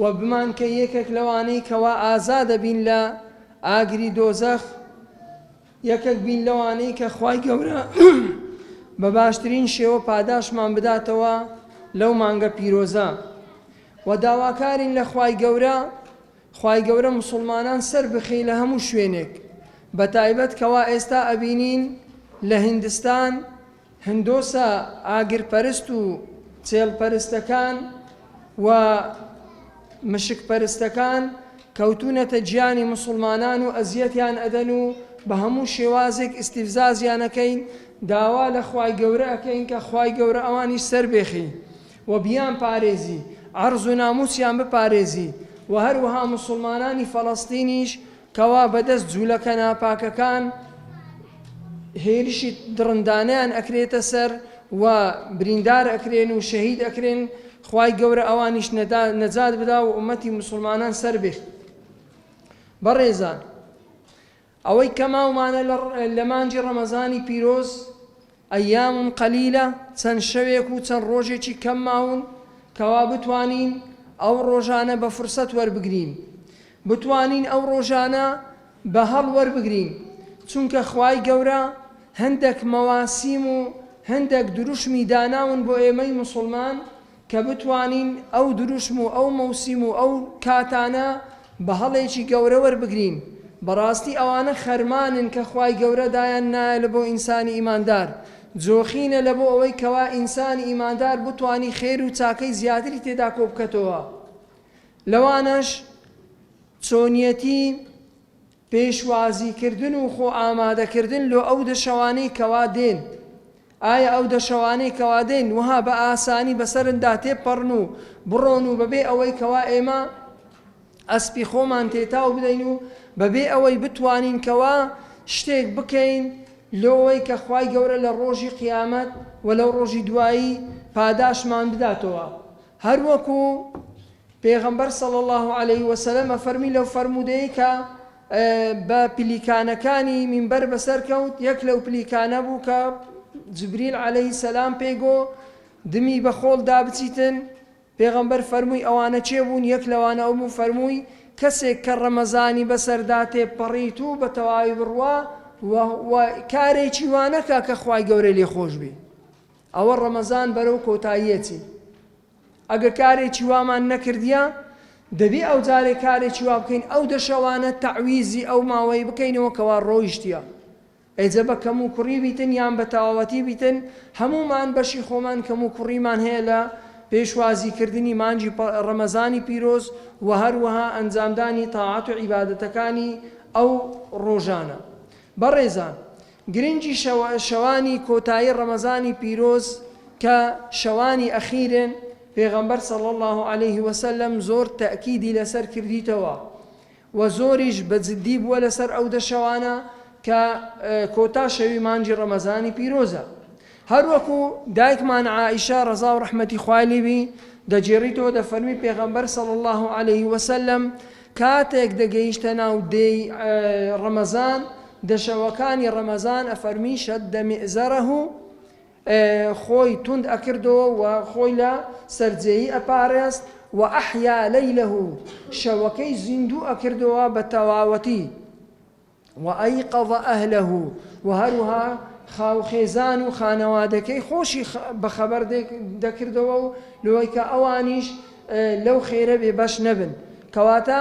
وە بمانکە یەکێک لەوانەی کەوا ئازادە بین لە ئاگری دۆزەخ یەکەک بین لەوانەی کە خوای گەورە بە باشترین شێوە پاداشمان بداتەوە لەو مانگە پیرۆزە و داواکارین لە خوای گەورە خوای گەورە مسلمانان سەر بخی لە هەموو شوێنێک بە تایبەت کەوا ئێستا ئەبینین لە هندستان هندۆسە ئاگرپەرست و چێڵپەرستەکان و مشکپەرستەکان کەوتوونەتە گیانی موسڵمانان و ئەزیەتیان ئەدەن و بە هەموو شێوازێک ئیستیفزازیان ئەکەین، داوا لە خوای گەورە ئەکەین کە خوای گەورە ئەوانیش سەربێخی و بیانپارێزی، عەڕز و نامووسیان بپارێزی و هەروەها موسڵمانانی فەڵەستینیش کەوا بەدەست جولەکە ناپاکەکان هێرشی دڕندانەیان ئەکرێتە سەر و بریندار ئەکرێن و شەهید ئەکرێن، خوای گەورە ئەوانیش نەجات بدا و ئومەتی موسڵمانان سەربێ. بەڕێزان ئەوەی کەماومانە لە مانگی ڕەمەزانی پیرۆز، ایام قلیلە، چەند شەوێک و چەند ڕۆژێکی کەم ماون کەوا بتوانین ئەو ڕۆژانە بە فرسەت وەربگرین، بتوانین ئەو ڕۆژانە بە هەڵ وەربگرین، چونکە خوای گەورە هەندەک مەواسیم و هەندەک دروشمی داناون بۆ ئێمەی موسڵمان کە بتوانین ئەو دروشم و ئەو مەوسیم و ئەو کاتانە بە هەڵێکی گەورە وەربگرین، بەڕاستی ئەوانە خەرمانن کە خوای گەورە دایان نایە لەبۆ ئینسانی ئیماندار، جۆخینە لەبۆ ئەوەی کەوا ئینسانی ئیماندار بتوانی خێر و چاکەی زیاتری تێدا کۆبکەتەوە، لەوانەش چۆنیەتی. پێشوازیکردن و خۆ ئامادەکردن لۆ ئەو دەشەوانەی کەوا دێن، ئایا ئەو دەشەوانەی کەوا دێن وەها بە ئاسانی بەسەرندا تێبپەڕن و بڕۆن و بەبێ ئەوەی کەوا ئێمە ئەسپی خۆمان تێتاو بدەین و بەبێ ئەوەی بتوانین کەوا شتێک بکەین لۆوەی کە خوای گەورە لە ڕۆژی قیامەت و لەو ڕۆژی دوایی پاداشمان بداتەوە هەر وەکو پێغەمبەر صلی اللە علیە وسلم فەرمی لەو فەرموودەی کە بە پلیکانەکانی مینبەر بەسەر کەوت یەک لەو پلیکانە بوو کە جبریل علیه سلام پێی گۆ دمی بە خۆڵ دا بچیتن پێغەمبەر فەرمووی ئەوانە چێ بوون یەک لەوانە ئەو بوو فەرمووی کەسێک کە ڕەمەزانی بەسەردا تێپەڕیت و بە تەواوی بڕوا و کارێکی وانەکە کە خوای گەورە لێ خۆش بی ئەوە ڕەمەزان بەرەو کۆتاییەتی ئەگە کارێکی وامان نەکردیە دەبی ئەو جارێ کارێکی وا بکەین ئەو دە شەوانە تەعویزی ئەو ماوەی بکەینەوە کەوا ڕۆیشتیە ئێجە بە کەم و کوڕی بیتن یان بە تەواوەتی بیتن هەمومان بەشی خۆمان کەم و کوڕیمان هەیە لە پێشوازی کردنی مانجی ڕەمەزانی پیرۆز و هەروەها ئەنجامدانی تاعەت و عیبادەتەکانی ئەو ڕۆژانە بەڕێزان گرنگی شەوانی کۆتایی ڕەمەزانی پیرۆز کە شەوانی ئەخیرن، پێغەمبەر صلی اللە علیه وسلم زۆر تەئکیدی لەسەر کردیتەوە و زۆریش بە جدی بووە لەسەر ئەو دە شەوانە کە کۆتا شەوی مانگی ڕەمەزانی پیرۆزە، هەروەکو دایکمان عائیشە ڕەزا و ڕەحمەتی خوای لێ بی دەگێڕیتەوە دەفەرمی پێغەمبەر صلی اللە علیە وسلم کاتێک دەگەیشتە ناو دێی ڕەمەزان دە شەوەکانی ڕەمەزان ئەفەرمی شد مئزرە خۆی توند ئەکردەوە و خۆی لە سەرجێی ئەپارێست و احیا لیلە شەوەکەی زیندوو ئەکردەوە بە تەواوەتی وایقظ اهله، و هەروها خاو خێزان و خانەوادەکەی خۆشی بەخەبەر دەکردەوە و لەوەی کە ئەوانیش لەو خێرە بێ بەش نەبن، کەواتە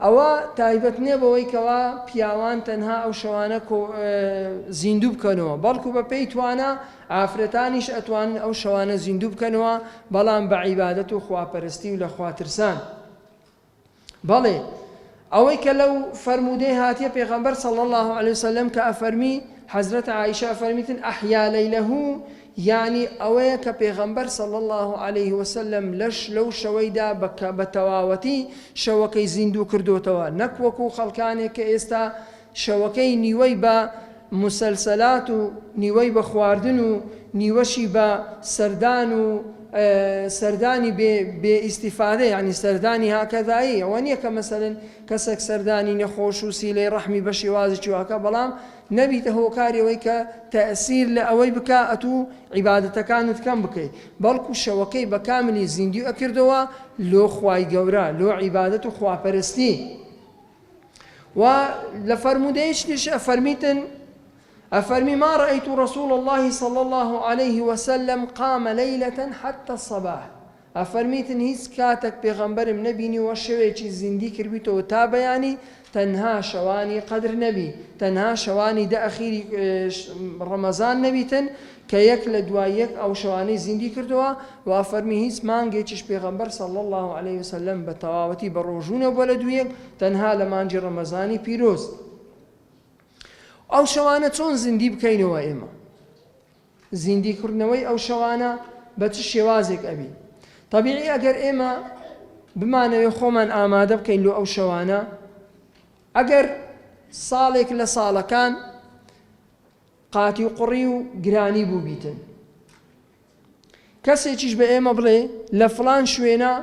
ئەوە تایبەت نیە بەوەی کەوا پیاوان تەنها ئەو شەوانە کۆ زیندوو بکەنەوە، بەڵکو بە پێی توانا ئافرەتانیش ئەتوانن ئەو شەوانە زیندوو بکەنەوە، بەڵام بە عیبادەت و خوا پەرستی و لە خوا ترسان. بەڵێ ئەوەی کە لەو فەرموودەی هاتیە پێغەمبەر صلی اللە علیە وسلم کە ئەفەرمی حەزرەت عائیشە ئەفەرمیتن احیا لیلە یانی ئەوەیە کە پێغەمبەر صلی اللە علیه وسلم لەش لەو شەوەیدا بە تەواوەتی شەوەکەی زیندوو کردۆتەوە نەک وەکو خەڵکانێک کە ئێستا شەوەکەی نیوەی بە موسەلسەلات و نیوەی بە خواردن و نیوەشی بە سەردان و سەردانی بێ بێ ئیستیفادە یەعنی سەردانی هاکەزایی ئەوە نیە کە مەسەلەن کەسەک سەردانی نەخۆش و سیلەی ڕەحمی بە شێوازێکی وا کە بەڵام نەبیتە هۆکاری ئەوەی کە تەئسیر لە ئەوەی بکا ئەتوو عیبادەتەکانت کەم بکەی بەڵکو شەوەکەی بە کاملی زیندوی ئەکردەوە لۆ خوای گەورە لۆ عیبادەت و خواپەرستی. و لە فەرموودەیەکیش ئەفەرمیتن ئەفەرمی ما رأیت رسول الله صلی الله علیه وسلم قام لیلة حتى الصباح ئەفەرمیتن هیچ کاتێک پێغەمبەرم نەبینی وە شەوێکی زیندی کردبیتەوە تا بەیانی تەنها شەوانی قەدر نەبی تەنها شەوانی دە ئەخیری ڕەمەزان نەبیتن کە یەک لە دوای یەک ئەو شەوانەی زیندی کردووە، وا فەرمی هیچ مانگێکیش پێغەمبەر صلی اللە علیە وسلم بە تەواوەتی بە ڕۆژوو نەبووە لە دوو یەک تەنها لە مانگی ڕەمەزانی پیرۆز ئەو شەوانە چۆن زیندی بکەینەوە ئێمە زیندی کردنەوەی ئەو شەوانە بە چ شێوازێک ئەبی طبیعی ئەگەر ئێمە بمانەوێ خۆمان ئامادە بکەین لۆ ئەو شەوانە ئەگەر ساڵێک لە ساڵەکان قاتی و قڕی و گرانی بووبیتن کەسێکیش بە ئێمە بڵێ لە فڵان شوێنە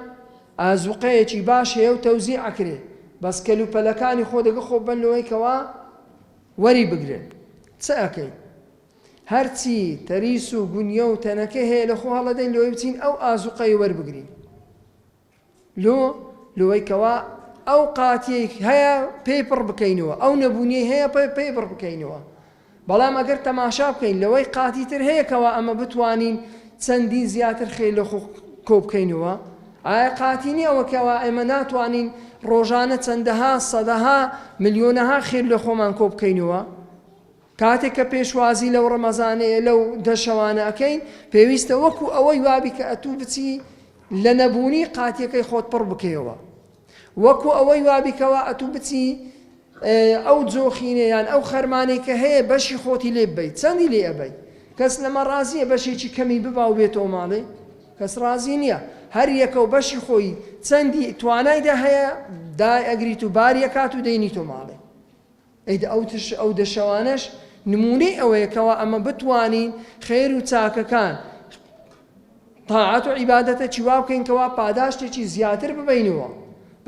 ئازوقەیەکی باش هەیە و تەوزی ئەکرێ بەس کەل و پەلەکانی خۆ دەگە خۆ بن لەوەی کەوا وەری بگرن چ ئەەکەین هەرچی تەریس و گونیە و تەنەکە هەیە لە خۆ هەڵەدەین لۆی بچین ئەو ئازوقەی وەربگرین لۆ لۆی کەوا ئەو قاتیەی هەیە پێی پڕ بکەینەوە ئەو نەبوونیەی هەیە پێی بڕ بکەینەوە بەڵام ئەگەر تەماشا بکەین لەوەی قاتی تر هەیە کەوا ئەمە بتوانین چەندین زیاتر خێ لە خۆ کۆبکەینەوە ئایا قاتی نییە ئەوە کەوا ئێمە ناتوانین ڕۆژانە چەندەها سەدەها ملیۆنەها خێر لە خۆمان کۆبکەینەوە کاتێک کە پێشوازی لەو ڕەمەزانەیە لەو دە شەوانە ئەکەین پێویستە وەکو ئەوەی وابی کە ئەتوو بچی لە نەبوونی قاتیەکەی خۆت پڕ بکەیەوە وەکو ئەوەی وابی کەوا ئەتوو بچی ئەو جۆخینێ یان ئەو خەرمانەی کە هەیە بەشی خۆتی لێ ببەیت چەندی لێ ئەبەیت کەس لەمە ڕازیە بەشێکی کەمی ببا و بێتەوە ماڵێ کەس ڕازی نییە هەر یەکە و بەشی خۆی چەندی توانایدا هەیە دای ئەگریت و باریەکات و دەینیتۆ ماڵێ ئەو دەشەوانەش نموونەی ئەوەیە کەوا ئەمە بتوانین خێر و چاکەکان، تاعەت و عیبادەتەکی وا بکەین کەوا پاداشتێکی زیاتر ببەینەوە،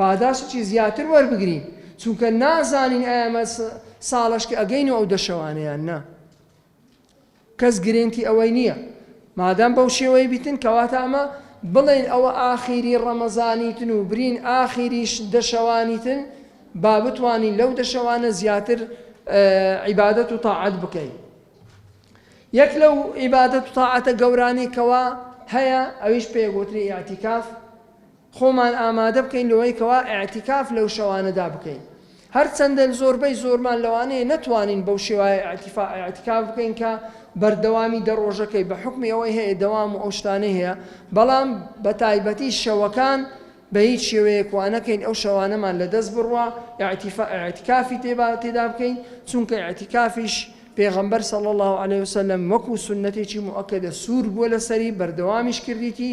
پاداشتێکی زیاتر وەربگرین، چونکە نازانین ئایا ئەمە ساڵەشکە ئەگەین و ئەو دەشەوانە یان نا. کەس گرێنتی ئەوەی نیە. مادام بەو شێوەیە بیتن کەواتە ئەمە بڵێن ئەوە ئاخیری ڕەمەزانیتن و برین ئاخیریش دە شەوانیتن با بتوانین لەو دە شەوانە زیاتر عیبادەت و تاعەت بکەین. یەک لەو عیبادەت و تاعەتە گەورانەی کەوا هەیە ئەویش پێ گوتری ئیعتیکاف خۆمان ئامادە بکەین لەوەی کەوا ئیعتیکاف لەو شەوانەدا بکەین هەرچەندە زۆربەی زۆرمان لەوانەیە نەتوانین بەو شێوایە ئیعتیکاف بکەین کە بەردەوامی دە ڕۆژەکەی بە حوکمی ئەوەی هەیە دەوام و ئەو شتانەی هەیە بەڵام بە تایبەتی شەوەکان بە هیچ شێوەیەک وا نەکەین ئەو شەوانەمان لە دەست بڕوا ئیعتیکافی تێدا بکەین چونکە ئیعتیکافیش پێغەمبەر صلی اللە علیە وسلم وەکو سونەتێکی موئەکەدە سوور بووە لەسەری بەردەوامیش کردیتی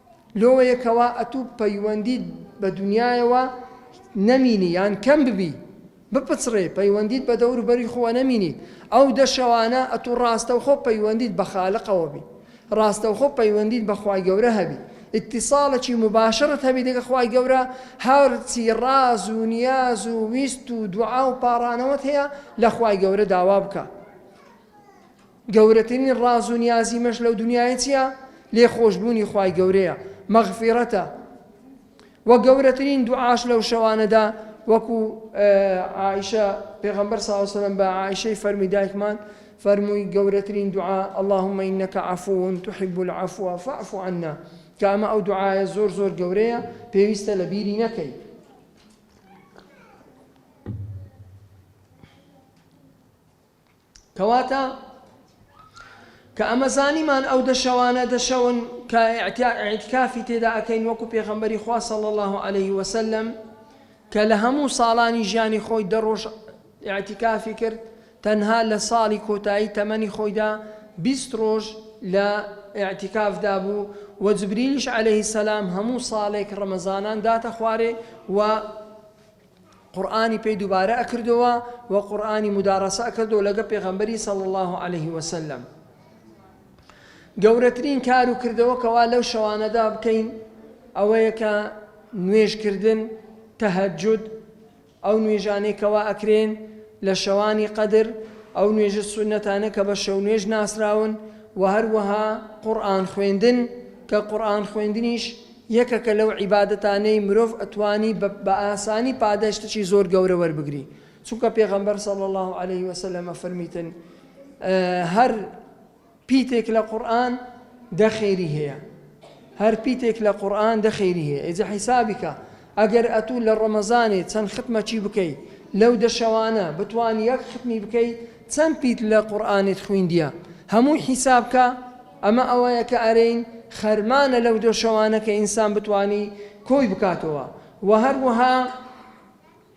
لۆیە کەوا ئەتو پەیوەندیت بە دونیایەوە نەمینی یان کەم ببی بپچڕێ پەیوەندیت بە دەوروبەری خۆوە نەمینی ئەو دە شەوانە ئەتو ڕاستەوخۆ پەیوەندیت بە خالقەوە بی ڕاستەوخۆ پەیوەندیت بە خوای گەورە هەبی ئیتیصالەکی مباشرت هەبی دەگە خوای گەورە هەرچی ڕاز و نیاز و ویست و دوعا و پاڕانەوەت هەیە لە خوای گەورە داوا بکە گەورەترین ڕاز و نیازی مەش لەو دونیایە چیە؟ لێ خۆش بوونی خوای گەورەیە، مەغفیرەتە، وە گەورەترین دوعاش لەو شەوانەدا وەکو عائیشە پێغەمبەر صلی اللە علیە وسلم بە عائیشەی فەرمی دایکمان فەرمووی گەورەترین دوعا اللهم انک عفو تحب العفو فاعف عنا کە ئەمە ئەو دوعایە زۆر زۆر گەورەیە پێویستە لە بیری نەکەی کەواتە کە ئەمە زانیمان ئەو دە شەوانە دە شەون کە ئیعتکافی تێدا ئەکەین وەکو پێغەمبەری خوا صلی الله علیه وسلم کە لە هەموو ساڵانی ژیانی خۆی دە ڕۆژ ئیعتکافی کرد تەنها لە ساڵی کۆتایی تەمەنی خۆیدا بیست ڕۆژ لە ئیعتکافدا بوو و جبریلیش عەلەیهی سەلام هەموو ساڵێک ڕەمەزانان داتە خوارێ و قورئانی پێی دوبارە ئەکردەوە و قورئانی مدارەسە ئەکردەوە لەگە پێغەمبەری صلی اللە علیە وسلم گەورەترین کار و کردەوە کەوا لەو شەوانەدا بکەین ئەوەیە کە نوێژکردن تەهەجود ئەو نوێژانەی کەوا ئەکرێن لە شەوانی قەدر ئەو نوێژە سونەتانە کە بە شەو نوێژ ناسراون و هەروەها قورئان خوێندن کە قورئان خوێندنیش یەکەکە لەو عیبادەتانەی مرۆڤ ئەتوانی بە بە ئاسانی پاداشتێکی زۆر گەورە وەربگری چونکە پێغەمبەر صلی اللە علیە وسلم ئەفەرمیتن هەر پیتێک لە قورئان دە خێری هەیە هەر پیتێک لە قورئان دە خێری هەیە ئیجا حیسابیکە ئەگەر ئەتوو لە ڕەمەزانێ چەند ختمەکی بکەی لەو دەشەوانە بتوان یەک ختمی بکەی چەند پیت لە قورئانت خویندیە هەمووی حیسابکە ئەمە ئەوەیە کە ئەرێین خەرمانە لەو دۆ شەوانە کە ئینسان بتوانی کۆی بکاتەوە وە هەروەها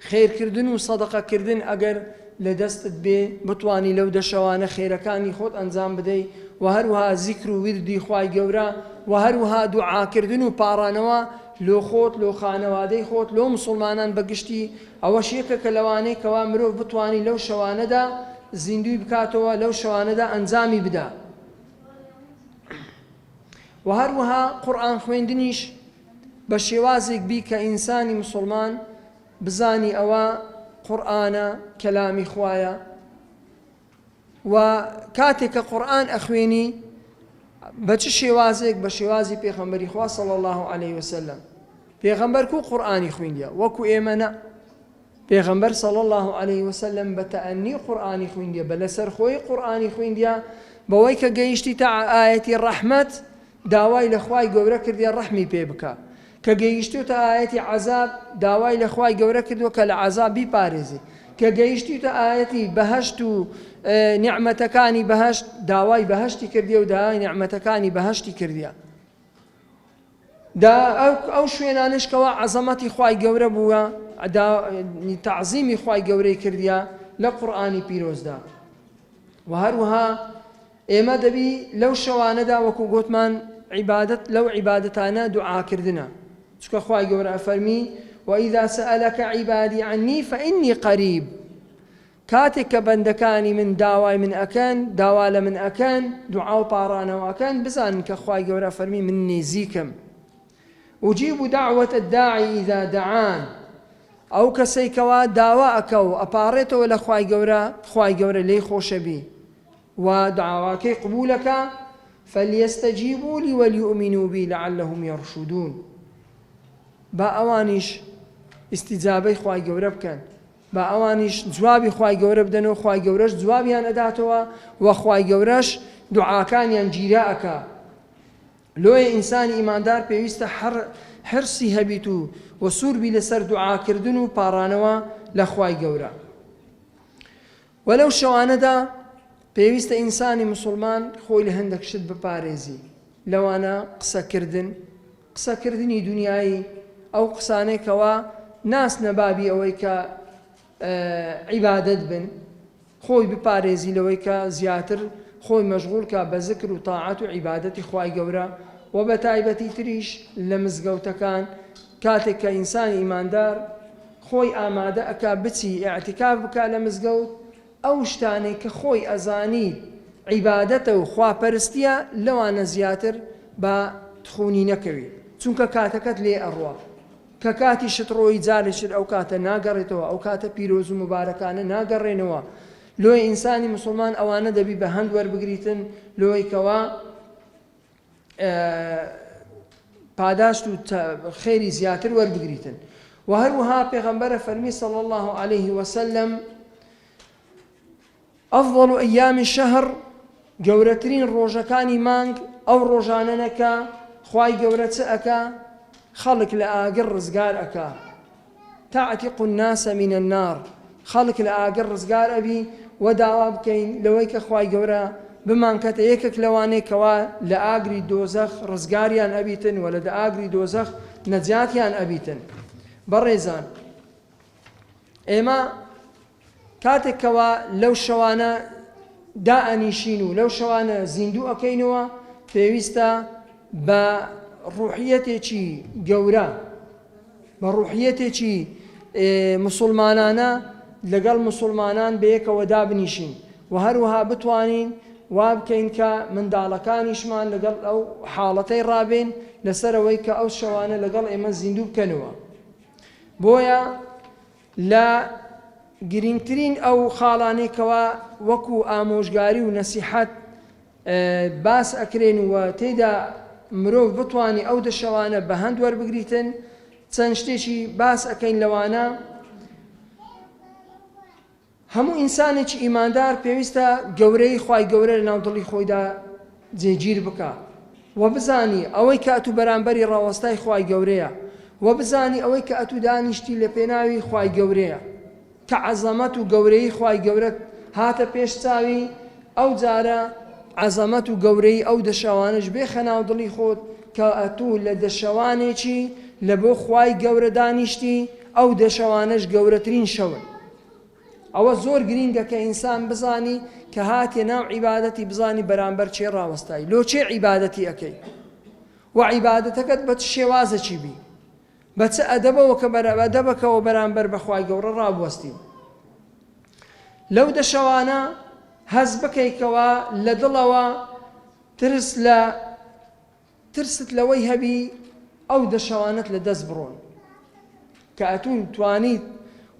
خێرکردن و سەدەقە کردن ئەگەر لە دەستت بێ بتوانی لەو دە شەوانە خێرەکانی خۆت ئەنجام بدەی وە هەروەها زیکر و ویردی خوای گەورە وە هەروەها دوعاکردن و پاڕانەوە لۆ خۆت لۆ خانەوادەی خۆت لۆ موسڵمانان بە گشتی ئەوەش یەکە کە لەوانەی کەوا مرۆڤ بتوانی لەو شەوانەدا زیندووی بکاتەوە لەو شەوانەدا ئەنجامی بدا. و هەروەها قورئان خوێندنیش بە شێوازێک بی کە ئینسانی مسلمان بزانی ئەوە قورآانە کەلامی خوایە و کاتێک کە قورآن ئەخوێنی بە چ شێوازێک بە شێوازی پێخەمبەری خوا صلی الله عليه وسلم پێغەمبەر کو قورآانی خوێندە وەکو ئێمەە پێغەمبەر صلی اللە علیە وسلم بە تەئەنی قورئانی خویندیە بە لەسەر خۆی قورئانی خویندیە بەوەی کە گەیشتیتە ئایەتی ڕەحمەت داوای لە خوای گەورە کردیە ڕەحمی پێ بکا کە گەیشتوتە ئایەتی عەزاب داوای لە خوای گەورە کردوە کە لە عەزاب بیپارێزی کە گەیشتیتە ئایەتی بەهەشت و نیعمەتەکانی بەهەشت داوای بەهەشتی کردیە و داوای نیعمەتەکانی بەهەشتی کردیە دا ئەو شوێنانەش کەوا عەزەمەتی خوای گەورە بووە دا تەعزیمی خوای گەورەی کردیە لە قورئانی پیرۆزدا و هەروەها ئێمە دەبی لەو شەوانەدا وەکو گوتمان عیبادەت لەو عیبادەتانە دوعاکردنە چکە خوای گەورە ئەفەرمی وإذا سألك عبادي عني فإني قريب کاتێک کە بەندەکانی من داوای من ئەکەن، داوا لە من ئەکەن، دوعا و پاڕانەوە ئەکەن، بزانن کە خوای گەورە فەرمی من نیزیکم. اجیب دعوە الداعی اذا دعان، ئەو کەسەی کەوا داوا ئەکا و ئەپاڕێتەوە لە خوای گەورە، خوای گەورە لێی خۆشەبی و دعاواکەی قبوول ئەکا، فلیستجیبوا لی ولیومنوا بی لعلهم یرشدون، با ئەوانیش ئیستیجابەی خوای گەورە بکەن. با ئەوانیش جوابی خوای گەورە بدەن و خوای گەورەش جوابیان ئەداتەوە وە خوای گەورەش دوعاکانیان گیرا ئەکا لۆیە ئینسانی ئیماندار پێویستە حر حرسی هەبیت و وە سوور بی لەسەر دوعاکردن و پاڕانەوە لە خوای گەورە. وە لەو شەوانەدا پێویستە ئینسانی موسوڵمان خۆی لە هەندەک شت بپارێزی لەوانە قسە کردن قسە کردنی دونیایی ئەو قسانەی کەوا ناچنە بابی ئەوەی کە عیبادەت بن خۆی بپارێزی لەوەی کە زیاتر خۆی مەشغول کا بە زکر و تاعەت و عیبادەتی خوای گەورە و بە تایبەتی تریش لە مزگەوتەکان کاتێک کە ئینسانی ئیماندار خۆی ئامادە ئەکا بچی ئیعتیکاف بکا لە مزگەوت ئەو شتانەی کە خۆی ئەزانی عیبادەتە و خوا پەرستیە لەوانە زیاتر با تخونی نەکەوی چونکە کاتەکەت لێ ئەڕوا کە کاتی شت ڕۆیی جارێ شت ئەو کاتە ناگەڕێتەوە ئەو کاتە پیرۆز و موبارەکانە ناگەڕێنەوە لۆیە ئینسانی موسڵمان ئەوانە دەبی بە هەند وەربگریتن لۆیکەوە پاداشت و خێری زیاتر وەربگریتن وە هەروەها پێغەمبەرە فەرمی صلی اللە علیه وسلم ئەفضل و ئەیامی شەهر گەورەترین ڕۆژەکانی مانگ ئەو ڕۆژانەنەکە خی گەورە چ ئەکا خەڵک لە ئاگر ڕزگار ئەکا تعتق الناس من النار، خەڵک لە ئاگر ڕزگار ئەبی، وە داوا بکەین لەوەی کە خوای گەورە بمان کەتە یەکەک لەوانەی کەوا لە ئاگری دۆزەخ ڕزگاریان ئەبیتن وە لە دئاگری دۆزەخ نەجاتیان ئەبیتن بەڕێزان ئێمە کاتێک کەوا لەو شەوانە دائەنیشین و لەو شەوانە زیندوو ئەکەینەوە پێویستە بە ڕوحیەتێکی گەورە بە ڕوحیەتێکی مسلمانانە لەگەڵ مسلمانان بەیەکەوە دابنیشین و هەروها بتوانین وابکەین کە منداڵەکانیشمان لەگەڵ ئەو حاڵەتەی ڕابێن لەسەرەوەی کە ئەو شەوانە لەگەڵ ئێمە زیندوو بکەنەوە بۆیە لە گرینگترین ئەو خاڵانەی کەوا وەکو ئامۆژگاری و نەسیحەت باس ئەکرێن و تێیدا مرۆڤ بتوانی ئەو دە شەوانە بە هەند وەربگریتن چەند شتێکی باس ئەکەین لەوانە. هەموو ئینسانێکی ئیماندار پێویستە گەورەیی خوای گەورە لە ناو دڵی خۆیدا جێگیر بکا و بزانی ئەوەی کە ئەتوو بەرامبەری ڕاوەستای خوای گەورەیە و بزانی ئەوەی کە ئەتوو دانیشتی لە پێناوی خوای گەورەیە کە عەزەمەت و گەورەیی خوای گەورەت هاتە پێش چاوی ئەو جارە عەزەمەت و گەورەیی ئەو دەشەوانەش بێخە ناو دڵی خۆت کە ئەتوو لە دەشەوانێکی لە بۆ خوای گەورە دانیشتی ئەو دەشەوانەش گەورەترین شەون. ئەوە زۆر گرینگە کە ئینسان بزانی کە هاتیە ناو عیبادەتی بزانی بەرامبەر چێ ڕاوەستای لۆ چێ عیبادەتی ئەکەی و عیبادەتەکەت بە چ شێوازەکی بی بە چ ئەدەبەوە کە بەرەبە دەبەکەەوە بەرامبەر بەخوای گەورە ڕابوەستی لەو دەشەوانە هەز بکەیتەوە لە دڵەوە ترس لە ترست لەوەی هەبی ئەو دە شەوانەت لە دەست بڕۆن کە ئەتوون توانیت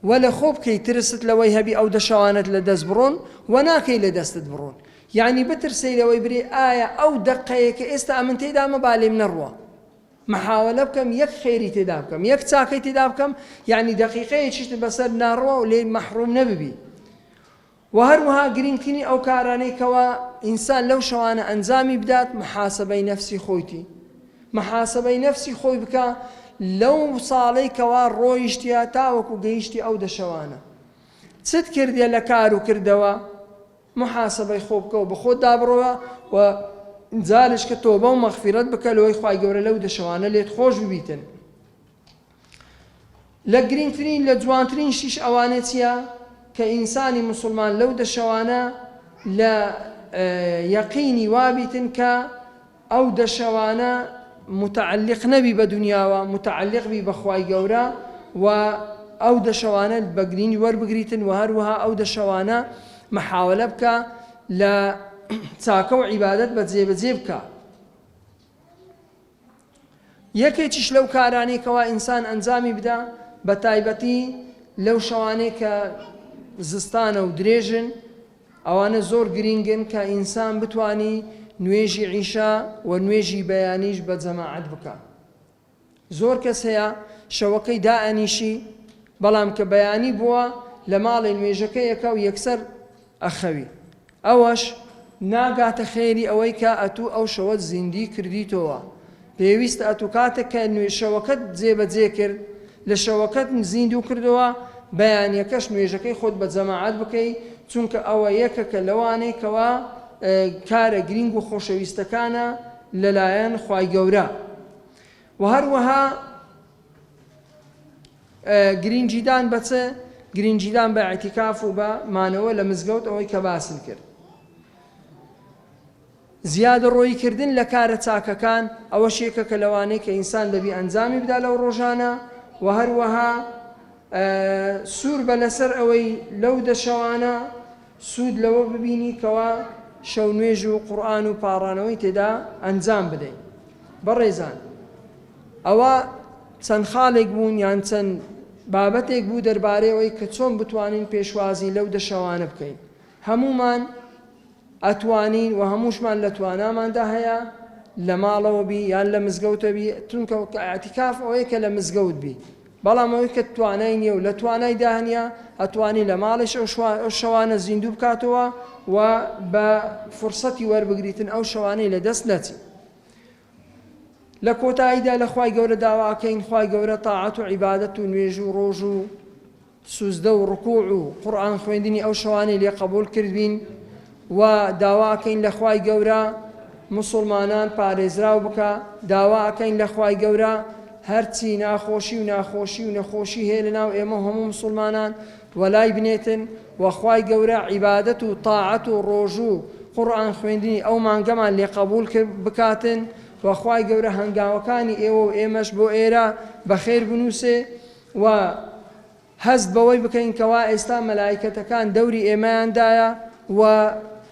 وە لە خۆ بکەی ترست لەوەی هەبی ئەو دە شەوانەت لە دەست بڕۆن وە ناکەی لە دەستت بڕۆن یانی بترسەی لەوەی برێ ئایا ئەو دەقەیە کە ئێستا ئەمن تێدامە با لێم نەڕوا محاوەلە بکەم یەک خێری تێدا بکەم یەک چاکەی تێدا بکەم یانی دەقیقەیەکیشت بەسەر ناڕوا و لێی مەحڕوم نەببی وە هەروەها گرینگترین ئەو کارانەی کەوا ئینسان لەو شەوانە ئەنجامی بدات محاسەبەی نەفسی خۆیتی محاسەبەی نەفسی خۆی بکا لەو ساڵەی کەوا ڕۆیشتە تاوەکو گەیشتی ئەو دە شەوانە چت کردیە لە کار و کردەوە محاسەبەی خۆ بکەو بە خۆت دابڕەوە و جارێشکە تۆبە و مەغفیرەت بکە لەوەی خوای گەورە لەو دە شەوانە لێت خۆش ببیتن لە گرینگترین لە جوانترینشیش ئەوانێ چیە کە ئینسانی موسوڵمان لەو دە شەوانە لە یەقینی وابیتن کە ئەو دە شەوانە موتەعەلیق نەبی بە دونیاوە موتەعەلیق بی بە خوای گەورە و ئەو دە شەوانە بە گرینی وەربگریتن و هەروەها ئەو دە شەوانە محاوەلە بکە لە چاکە و عیبادەت بە جێ بە جێ بکە. یەکێکیش لەو کارانەی کەوا ئینسان ئەنجامی بدا بە تایبەتی لەو شەوانەی کە زستانە و درێژن ئەوانە زۆر گرینگن کە ئینسان بتوانی نوێژی عیشا و نوێژی بەیانیش بە جەماعەت بکا زۆر کەس هەیە شەوەکەی دائەنیشی بەڵام کە بەیانی بووە لە ماڵێ نوێژەکەیەکە و یەکسەر ئەخەوی ئەوەش ناگاتە خێری ئەوەی کە ئەتوو ئەو شەوەت زیندی کردیتۆوە پێویستە ئەتوو کاتێک کە نوێژ شەوەکەت جێ بە جێ کرد لە شەوەکەت زیندوو کردۆوە بەیانیەکەش نوێژەکەی خۆت بە جەماعەت بکەی چونکە ئەوە یەکەکە لەوانەی کەوا کارە گرینگ و خۆشەویستەکانە لەلایەن خوای گەورە وە هەروەها گرینگیدان بە چ؟ گرینگیدان بە ئیعتیکاف و بە مانەوە لە مزگەوت ئەوەی کە باسم کرد. زیادەڕۆیی کردن لە کارە چاکەکان ئەوەش یەکە کە لەوانەی کە ئینسان دەبی ئەنجامی بدا لەو ڕۆژانە و هەروەها سوور بە لەسەر ئەوەی لەو دە شەوانە سوود لەوە ببینی کەوا شەو نوێژ و قورئان و پاڕانەوەی تێدا ئەنجام بدەی. بەڕێزان! ئەوە چەند خاڵێک بوون یان چەند بابەتێک بوو دەربارەی ئەوەی کە چۆن بتوانین پێشوازی لەو دە شەوانە بکەین. هەموومان ئەتوانین و هەمووشمان لە تواناماندا هەیە لە ماڵەوە بی یان لە مزگەوتە بی، چونکە ئیعتیکاف ئەوەیە کە لە مزگەوت بی، بەڵام ئەوەی کە توانای نییە و لە توانایدا نییە ئەتوانی لە ماڵیش ئەو شەوانە زیندوو بکاتەوە و بە فرسەتی وەربگریتن ئەو شەوانەی لە دەست نەچی. لە کۆتاییدا لە خوای گەورە داواکەین خوای گەورە تاعەت و عیبادەت و نوێژ و ڕۆژ و سوزدە و ڕکوع و قورآن خوێندنی ئەو شەوانەی لێ قبول کردبین و داواکەین لە خوای گەورە مسلمانان پارێزراو بکە داواکەین لە خوای گەورە هەرچی ناخۆشی و ناخۆشی و نەخۆشی هەیە لە ناو ئێمە هەموو مسلمانان وەلای بنێتن وە خوای گەورە عیبادەت و تاعەت و ڕۆژو و قوڕئان خوێندنی ئەو مانگەمان لێ قەبوڵ کرد بکاتن وە خوای گەورە هەنگاوەکانی ئێوەو ئێمەش بۆ ئێرە بەخێر بنوسێ وە هەست بەوەی بکەین کەوا ئێستا مەلایکەتەکان دەوری ئێمەیان دایە وە